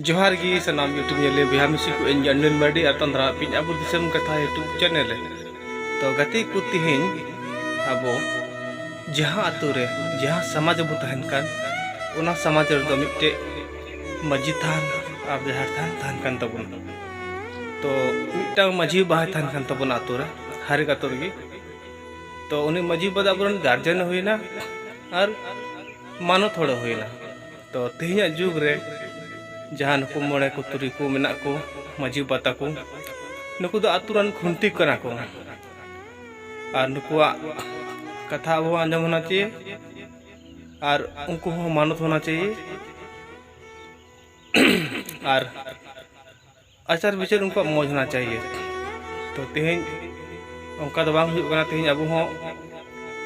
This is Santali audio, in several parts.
ᱡᱚᱦᱟᱨ ᱜᱮ ᱥᱟᱱᱟᱢ ᱤᱭᱩᱴᱩᱵᱽ ᱧᱮᱞᱮ ᱵᱚᱭᱦᱟ ᱢᱤᱥᱤ ᱠᱚ ᱤᱧ ᱜᱟᱱᱰᱤᱱ ᱢᱟᱨᱰᱤ ᱟᱨ ᱛᱟᱱᱫᱨᱟ ᱯᱤᱧ ᱟᱵᱚ ᱫᱤᱥᱚᱢ ᱠᱟᱛᱷᱟ ᱤᱭᱩᱴᱩᱵᱽ ᱪᱮᱱᱮᱞ ᱨᱮ ᱛᱚ ᱜᱟᱛᱮ ᱠᱚ ᱛᱮᱦᱮᱧ ᱟᱵᱚ ᱡᱟᱦᱟᱸ ᱟᱛᱳ ᱨᱮ ᱡᱟᱦᱟᱸ ᱥᱚᱢᱟᱡᱽ ᱵᱚ ᱛᱟᱦᱮᱱ ᱠᱟᱱ ᱚᱱᱟ ᱥᱚᱢᱟᱡᱽ ᱨᱮᱫᱚ ᱢᱤᱫᱴᱮᱡ ᱢᱟᱹᱡᱷᱤ ᱛᱷᱟᱱ ᱟᱨ ᱡᱟᱦᱮᱨ ᱛᱷᱟᱱ ᱛᱟᱦᱮᱱ ᱠᱟᱱ ᱛᱟᱵᱚᱱᱟ ᱛᱚ ᱢᱤᱫᱴᱟᱝ ᱢᱟᱹᱡᱷᱤ ᱵᱟᱦᱟᱭ ᱛᱟᱦᱮᱱ ᱠᱟᱱ ᱛᱟᱵᱚᱱᱟ ᱟᱛᱳ ᱨᱮ ᱦᱟᱨᱮᱠ ᱟᱛᱳ ᱨᱮᱜᱮ ᱛᱚ ᱩᱱᱤ ᱢᱟᱹᱡᱷᱤ ᱵᱟᱫ ᱟᱵᱚᱨᱮᱱ ᱜᱟᱨᱡᱮᱱ ᱦᱩᱭᱱᱟ ᱟᱨ ᱢᱟᱱᱚᱛ ᱦᱚᱲ ᱦᱩᱭᱱᱟ ᱛᱚ ᱛᱮᱦᱮᱧᱟᱜ ᱡᱩᱜᱽ ᱨᱮ ᱡᱟᱦᱟᱸ ᱱᱩᱠᱩ ᱢᱚᱬᱮ ᱠᱚ ᱛᱩᱨᱩᱭ ᱠᱚ ᱢᱮᱱᱟᱜ ᱠᱚ ᱢᱟᱹᱡᱷᱤ ᱵᱟᱵᱟ ᱛᱟᱠᱚ ᱱᱩᱠᱩ ᱫᱚ ᱟᱛᱳ ᱨᱮᱱ ᱠᱷᱩᱱᱴᱤ ᱠᱟᱱᱟ ᱠᱚ ᱟᱨ ᱱᱩᱠᱩᱣᱟᱜ ᱠᱟᱛᱷᱟ ᱟᱵᱚ ᱟᱸᱡᱚᱢ ᱦᱚᱱᱟ ᱪᱟᱦᱤᱭᱮ ᱟᱨ ᱩᱱᱠᱩ ᱦᱚᱸ ᱢᱟᱱᱚᱛ ᱦᱚᱱᱟ ᱪᱟᱦᱤᱭᱮ ᱟᱨ ᱟᱪᱟᱨ ᱵᱤᱪᱟᱹᱨ ᱩᱱᱠᱩᱣᱟᱜ ᱢᱚᱡᱽ ᱦᱚᱱᱟ ᱪᱟᱭᱭᱮ ᱛᱚ ᱛᱮᱦᱮᱧ ᱚᱱᱠᱟ ᱫᱚ ᱵᱟᱝ ᱦᱩᱭᱩᱜ ᱠᱟᱱᱟ ᱛᱮᱦᱮᱧ ᱟᱵᱚ ᱦᱚᱸ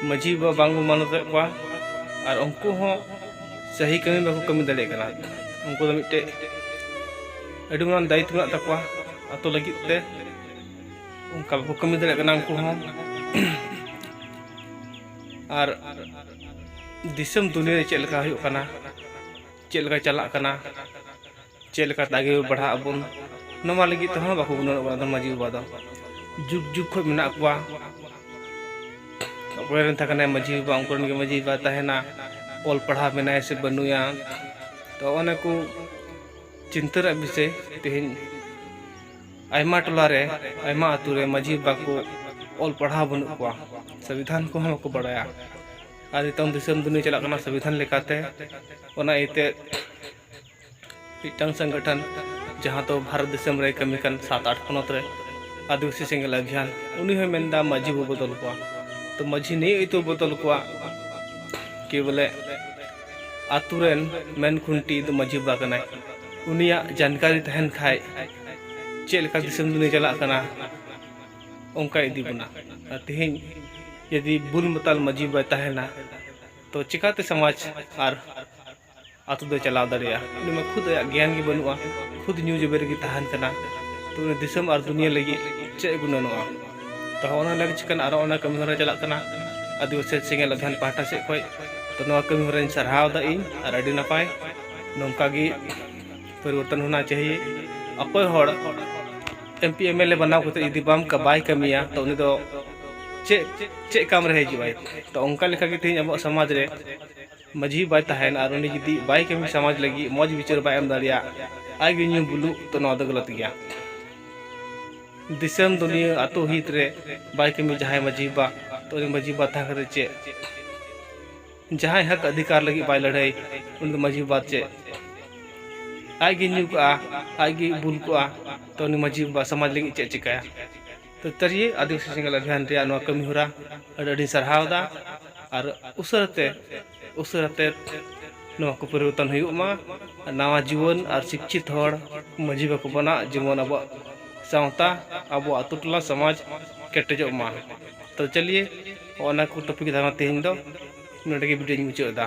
ᱢᱟᱹᱡᱷᱤ ᱵᱟᱵᱟ ᱵᱟᱝ ᱵᱚᱱ ᱢᱟᱱᱚᱛᱮᱫ ᱠᱚᱣᱟ ᱟᱨ ᱩᱱᱠᱩ ᱦᱚᱸ ᱥᱟᱹᱦᱤ ᱠᱟᱹᱢᱤ ᱵᱟᱠᱚ ᱠᱟᱹᱢᱤ ᱫᱟᱲᱮᱭᱟᱜ ᱠᱟᱱᱟ ᱩᱱᱠᱩ ᱫᱚ ᱢᱤᱫᱴᱮᱡ ᱟᱹᱰᱤ ᱢᱟᱨᱟᱝ ᱫᱟᱭᱤᱛᱛᱚ ᱢᱮᱱᱟᱜ ᱛᱟᱠᱚᱣᱟ ᱟᱛᱳ ᱞᱟᱹᱜᱤᱫ ᱛᱮ ᱚᱱᱠᱟ ᱵᱟᱠᱚ ᱠᱟᱹᱢᱤ ᱫᱟᱲᱮᱭᱟᱜ ᱠᱟᱱᱟ ᱩᱱᱠᱩ ᱦᱚᱸ ᱟᱨ ᱫᱤᱥᱚᱢ ᱫᱩᱱᱤᱭᱟᱹ ᱨᱮ ᱪᱮᱫ ᱞᱮᱠᱟ ᱦᱩᱭᱩᱜ ᱠᱟᱱᱟ ᱪᱮᱫ ᱞᱮᱠᱟ ᱪᱟᱞᱟᱜ ᱠᱟᱱᱟ ᱪᱮᱫ ᱞᱮᱠᱟ ᱛᱮ ᱟᱜᱮ ᱵᱟᱲᱦᱟᱜ ᱟᱵᱚᱱ ᱱᱚᱣᱟ ᱞᱟᱹᱜᱤᱫ ᱛᱮᱦᱚᱸ ᱵᱟᱠᱚ ᱜᱩᱱᱟᱹᱱᱚᱜ ᱠᱟᱱᱟ ᱢᱟᱹᱡᱷᱤ ᱵᱟᱵᱟ ᱫᱚ ᱡᱩᱜᱽ ᱡᱩᱜᱽ ᱠᱷᱚᱱ ᱢᱮᱱᱟᱜ ᱠᱚᱣᱟ ᱚᱠᱚᱭ ᱨᱮᱱ ᱛᱟᱦᱮᱸ ᱠᱟᱱᱟᱭ ᱢᱟᱹᱡᱷᱤ ᱵᱟᱵᱟ ᱩᱱᱠᱩ ᱨᱮᱱ ᱜᱮ ᱢᱟᱹᱡᱷᱤ ᱵᱟᱵᱟ ᱛᱟᱦᱮᱱᱟ ᱚᱞ ᱯᱟᱲᱦᱟᱣ ᱢᱮᱱᱟᱭᱟ ᱥᱮ ᱵᱟᱹᱱᱩᱭᱟ ᱛᱚ ᱚᱱᱟ ᱠᱚ ᱪᱤᱱᱛᱟᱹ ᱨᱮᱭᱟᱜ ᱵᱤᱥᱚᱭ ᱛᱮᱦᱮᱧ ᱟᱭᱢᱟ ᱴᱚᱞᱟ ᱨᱮ ᱟᱭᱢᱟ ᱟᱹᱛᱩ ᱨᱮ ᱢᱟᱹᱡᱷᱤ ᱵᱟᱵᱟ ᱠᱚ ᱚᱞ ᱯᱟᱲᱦᱟᱣ ᱵᱟᱹᱱᱩᱜ ᱠᱚᱣᱟ ᱥᱚᱝᱵᱤᱫᱷᱟᱱ ᱠᱚᱦᱚᱸ ᱵᱟᱠᱚ ᱵᱟᱲᱟᱭᱟ ᱟᱨ ᱱᱤᱛᱚᱝ ᱫᱤᱥᱚᱢ ᱫᱩᱱᱤᱭᱟᱹ ᱪᱟᱞᱟᱜ ᱠᱟᱱᱟ ᱥᱚᱝᱵᱤᱫᱷᱟᱱ ᱞᱮᱠᱟᱛᱮ ᱚᱱᱟ ᱤᱭᱟᱹᱛᱮ ᱢᱤᱫᱴᱟᱝ ᱥᱚᱝᱜᱚᱴᱷᱚᱱ ᱡᱟᱦᱟᱸ ᱫᱚ ᱵᱷᱟᱨᱚᱛ ᱫᱤᱥᱚᱢ ᱨᱮ ᱠᱟᱹᱢᱤ ᱠᱟᱱ ᱥᱟᱛ ᱟᱴ ᱯᱚᱱᱚᱛ ᱨᱮ ᱟᱹᱫᱤᱵᱟᱹᱥᱤ ᱥᱮᱸᱜᱮᱞ ᱟᱵᱷᱤᱭᱟᱱ ᱩᱱᱤ ᱦᱚᱸᱭ ᱢᱮᱱᱫᱟ ᱢᱟᱹᱡᱷᱤ ᱵᱚ ᱵᱚᱫᱚᱞ ᱠᱚᱣᱟ ᱛᱚ ᱢᱟᱹᱡᱷᱤ ᱱᱤᱭᱟᱹ ᱤᱛᱩ ᱵᱚᱫᱚᱞ ᱠᱚᱣᱟ ᱠᱤ ᱵᱚᱞᱮ ᱟᱛᱳ ᱨᱮᱱ ᱢᱮᱱ ᱠᱷᱩᱱᱴᱤ ᱫᱚ ᱢᱟᱹᱡᱷᱤ ᱵᱟᱵᱟ ᱠᱟᱱᱟᱭ ᱩᱱᱤᱭᱟᱜ ᱡᱟᱱᱠᱟᱨᱤ ᱛᱟᱦᱮᱱ ᱠᱷᱟᱡ ᱪᱮᱫ ᱞᱮᱠᱟ ᱫᱤᱥᱚᱢ ᱫᱩᱱᱤᱭᱟᱹ ᱪᱟᱞᱟᱜ ᱠᱟᱱᱟ ᱚᱱᱠᱟ ᱤᱫᱤ ᱵᱚᱱᱟ ᱟᱨ ᱛᱮᱦᱮᱧ ᱡᱩᱫᱤ ᱵᱩᱞ ᱢᱟᱛᱟᱞ ᱢᱟᱹᱡᱷᱤ ᱵᱟᱭ ᱛᱟᱦᱮᱱᱟ ᱛᱚ ᱪᱤᱠᱟᱛᱮ ᱥᱚᱢᱟᱡᱽ ᱟᱨ ᱟᱛᱳ ᱫᱚᱭ ᱪᱟᱞᱟᱣ ᱫᱟᱲᱮᱭᱟᱜᱼᱟ ᱩᱱᱤ ᱢᱟ ᱠᱷᱩᱫ ᱟᱭᱟᱜ ᱜᱮᱭᱟᱱ ᱜᱮ ᱵᱟᱹᱱᱩᱜᱼᱟ ᱠᱷᱩᱫ ᱧᱩ ᱡᱚᱵᱮ ᱨᱮᱜᱮ ᱛᱟᱦᱮᱱ ᱠᱟᱱᱟ ᱛᱚ ᱩᱱᱤ ᱫᱤᱥᱚᱢ ᱟᱨ ᱫᱩᱱᱤᱭᱟᱹ ᱞᱟᱹᱜᱤᱫ ᱪᱮᱫ ᱮ ᱜᱩᱱᱟᱹᱱᱚᱜᱼᱟ ᱛᱚ ᱚᱱᱟ ᱞᱟᱹᱜᱤᱫ ᱪᱤᱠᱟᱹᱱᱟ ᱟᱨ ᱚᱱᱟ ᱠᱟᱹᱢᱤ ᱦᱚᱨᱟ ᱪᱟᱞᱟᱜ ᱠᱟᱱᱟ ᱟᱹᱫᱤᱵᱟᱹᱥᱤ ᱥᱮᱸᱜᱮᱞ ᱚᱵᱷᱤᱭᱟᱱ ᱯᱟᱦᱴᱟ ᱥᱮᱫ ᱠᱷᱚᱱ ᱛᱚ ᱱᱚᱣᱟ ᱠᱟᱹᱢᱤ ᱦᱚᱨᱟᱧ ᱥᱟᱨᱦᱟᱣᱫᱟ ᱤᱧ ᱟᱨ ᱟᱹᱰᱤ ᱱᱟᱯᱟᱭ ᱱᱚᱝᱠᱟ ᱜᱮ ᱯᱚᱨᱤᱵᱚᱨᱛᱚᱱ ᱦᱚᱱᱟ ᱪᱟᱦᱤᱭᱮ ᱚᱠᱚᱭ ᱦᱚᱲ M P M L A ᱵᱮᱱᱟᱣ ᱠᱟᱛᱮ ᱡᱩᱫᱤ ᱵᱟᱢ ᱵᱟᱭ ᱠᱟᱹᱢᱤᱭᱟ ᱛᱚ ᱩᱱᱤ ᱫᱚ ᱪᱮᱫ ᱪᱮᱫ ᱠᱟᱢ ᱨᱮ ᱦᱤᱡᱩᱜᱼᱟᱭ ᱛᱚ ᱚᱱᱠᱟ ᱞᱮᱠᱟᱜᱮ ᱛᱮᱦᱮᱧ ᱟᱵᱚᱣᱟᱜ ᱥᱚᱢᱟᱡᱽ ᱨᱮ ᱢᱟᱹᱡᱷᱤ ᱵᱟᱭ ᱛᱟᱦᱮᱱ ᱟᱨ ᱩᱱᱤ ᱡᱩᱫᱤ ᱵᱟᱭ ᱠᱟᱹᱢᱤ ᱥᱚᱢᱟᱡᱽ ᱞᱟᱹᱜᱤᱫ ᱢᱚᱡᱽ ᱵᱤᱪᱟᱹᱨ ᱵᱟᱭ ᱮᱢ ᱫᱟᱲᱮᱭᱟᱜ ᱟᱡ ᱜᱮ ᱧᱩ ᱵᱩᱞᱩᱜ ᱛᱚ ᱱᱚᱣᱟ ᱫᱚ ᱜᱟᱞᱟᱛ ᱜᱮᱭᱟ ᱫᱤᱥᱚᱢ ᱫᱩᱱᱤᱭᱟᱹ ᱟᱛᱳ ᱦᱤᱛ ᱨᱮ ᱵᱟᱭ ᱠᱟᱹᱢᱤ ᱡᱟᱦᱟᱸᱭ ᱢᱟᱹᱡᱷᱤ ᱵᱟ ᱛᱚ ᱩᱱᱤ ᱢᱟᱹᱡᱷᱤ ᱵᱟ ᱛᱟᱦᱮᱸ ᱠᱟᱛᱮ ᱪᱮᱫ ᱡᱟᱦᱟᱸᱭ ᱦᱚᱠ ᱚᱫᱷᱤᱠᱟᱨ ᱞᱟᱹᱜᱤᱫ ᱵᱟᱭ ᱞᱟᱹᱲᱦᱟᱹᱭ ᱩᱱᱤ ᱫᱚ ᱢᱟᱹᱡᱷᱤ ᱵᱟ ᱪᱮᱫ ᱟᱡ ᱜᱮ ᱧᱩ ᱠᱚᱜᱼᱟ ᱟᱡ ᱜᱮ ᱵᱩᱞ ᱠᱚᱜᱼᱟ ᱛᱚ ᱩᱱᱤ ᱢᱟᱹᱡᱷᱤ ᱵᱟ ᱥᱚᱢᱟᱡᱽ ᱞᱟᱹᱜᱤᱫ ᱪᱮᱫ ᱪᱤᱠᱟᱹᱭᱟ ᱯᱟᱹᱭᱠᱟᱹᱨᱤᱭᱟᱹ ᱟᱹᱫᱤᱵᱟᱹᱥᱤ ᱥᱮᱸᱜᱮᱞ ᱚᱵᱷᱤᱭᱟᱱ ᱨᱮᱭᱟᱜ ᱱᱚᱣᱟ ᱠᱟᱹᱢᱤ ᱦᱚᱨᱟ ᱟᱹᱰᱤ ᱟᱹᱰᱤᱧ ᱥᱟᱨᱦᱟᱣ ᱮᱫᱟ ᱟᱨ ᱩᱥᱟᱹᱨᱟ ᱛᱮ ᱩᱥᱟᱹᱨᱟ ᱛᱮ ᱱᱚᱣᱟ ᱠᱚ ᱯᱚᱨᱤᱵᱚᱨᱛᱚᱱ ᱦᱩᱭᱩᱜ ᱢᱟ ᱱᱟᱣᱟ ᱡᱩᱣᱟᱹᱱ ᱟᱨ ᱥᱤᱪᱪᱷᱤᱛ ᱦᱚᱲ ᱢᱟᱹᱡᱷᱤ ᱵᱟᱠᱚ ᱵᱮᱱᱟᱜ ᱡᱮᱢᱚᱱ ᱟᱵᱚᱣᱟᱜ ᱥᱟᱶᱛᱟ ᱟᱵᱚᱣᱟᱜ ᱟᱛᱳ ᱴᱚᱞᱟ ᱥᱚᱢᱟᱡᱽ ᱠᱮᱴᱮᱡᱚᱜ ᱢᱟ ᱛᱚ ᱪᱟᱹᱞᱤᱭᱮ ᱚᱱᱟ ᱠᱚ ᱴᱚᱯᱤᱠ ᱫᱷᱟᱨᱟ ᱛᱮᱦᱮᱧ ᱫᱚ ᱱᱚᱰᱮ ᱜᱮ ᱵᱷᱤᱰᱤᱭᱳᱧ ᱢᱩᱪᱟᱹᱫ ᱮᱫᱟ